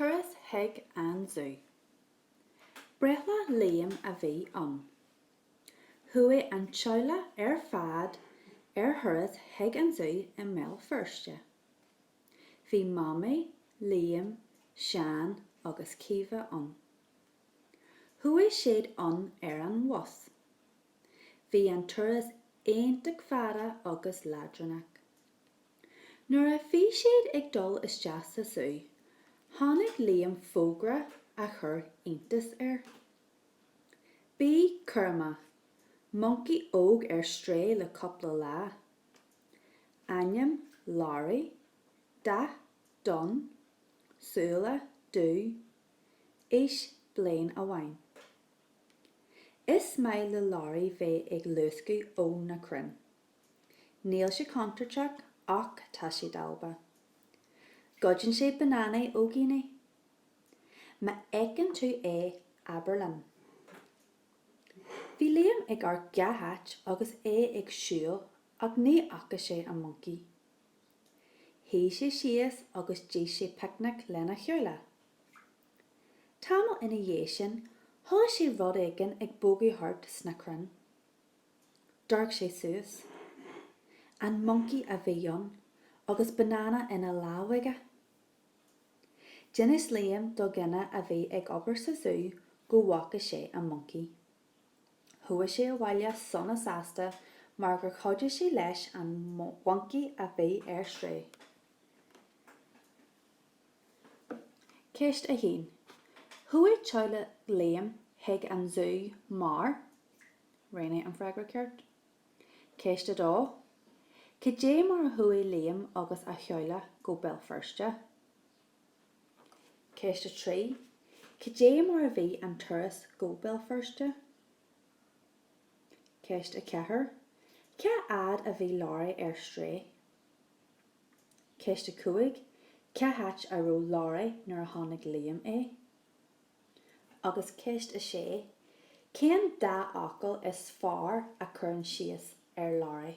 Turas chuig an zú. Breithlá Liam a bhí ann. Chuaigh an teaghlach ar fad ar thuras chuig an zú i mBéal Feirste. Bhí Mamaí, Liam, Seán agus Caoimhe ann. Chuaigh siad ann ar an bhus. Bhí an turas iontach fada agus leadránach. Nuair a bhí siad ag dul isteach sa Zú, chonaic Liam fógra a chuir iontas air. Bí cúramach, moncaí óg ar strae le cúpla lá. Ainm, Learaí, dath, donn, súile, dubh, aois, bliain amháin. Is maith le Learaí bheith ag luascadh ó na crainn. Níl sé contúirteach ach tá sé dalba. Goideann sé bananaí ó dhaoine. Má fheiceann tú é, abair linn. Bhí Liam ag amharc gach áit agus é ag siúl ach ní fhaca sé an moncaí. Shuigh sé síos agus d'ith sé picnic lena theaghlach. Tamall ina dhiaidh sin, chuala sé rud éigin ag bogadh thart sna crainn. D'amharc sé suas. An moncaí a bhí ann agus banana ina lámh aige. D'inis Liam do dhuine a bhí ag obair sa zú go bhfaca sé an moncaí. Chuaigh sé abhaile sona sásta mar gur chuidigh sé leis an mhoncaí a bhí ar strae. Ceist 1 Chuaigh teaghlach Liam chuig an zú mar. Roghnaigh an freagra ceart. Ceist a dó, Cad é mar a chuaigh Liam agus a theaghlach go Béal Feirste? Ceist a trí, Cad é mar a bhí an turas go Béal Feirste? Ceist a ceathair, Cá fhad a bhí Learaí ar strae? Ceist a cúig, Cá háit a raibh Learaí nuair a chonaic Liam é? agus Ceist 6, Cén dá fhocal is fearr a chuireann síos ar Learaí?